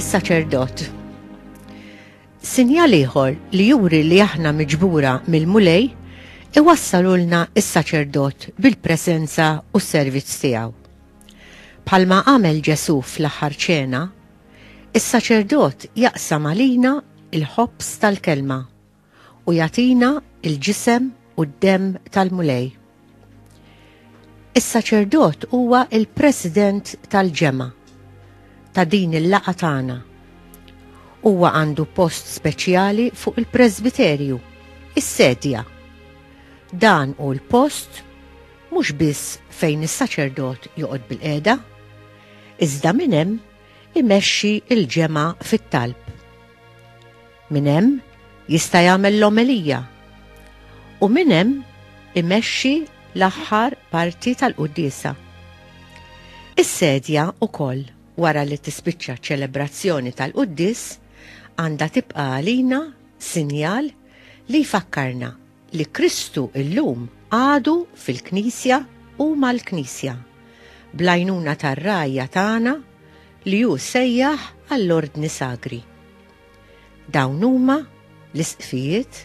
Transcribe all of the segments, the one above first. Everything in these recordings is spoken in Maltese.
is-saċerdot. Sinjal ieħor li juri li aħna miġbura mill-mulej iwassalulna is-saċerdot bil-presenza u s-servizz tiegħu. Palma għamel Ġesu fl-aħħar ċena, Is-saċerdot jaqsam għalina l-ħobż tal-Kelma u jagħtina l-ġisem u d-demm tal-Mulej. Is-saċerdot huwa l-president tal-ġemgħa ta' din il-laqgħa tagħna. Huwa għandu post speċjali fuq il-presbiterju, is-sedja. Dan hu l-post mhux biss fejn is-saċerdot joqgħod bil-qiegħda, iżda minn hemm imexxi l-ġemgħa fit-talb. Minn hemm jista' jagħmel l-omelija u minn hemm imexxi l-aħħar parti tal-quddiesa. Is-sedja wkoll wara li tispiċċa ċ-ċelebrazzjoni tal-quddies għandha tibqa' għalina sinjal li jfakkarna li Kristu llum għadu fil-Knisja u mal-Knisja, bl-għajnuna tar-Ragħajja tagħna li hu sejjaħ għall-Ordni Sagri. Dawn huma l-Isqfijiet,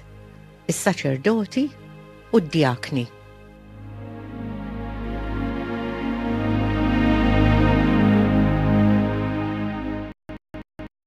is-Saċerdoti u d-Djakni.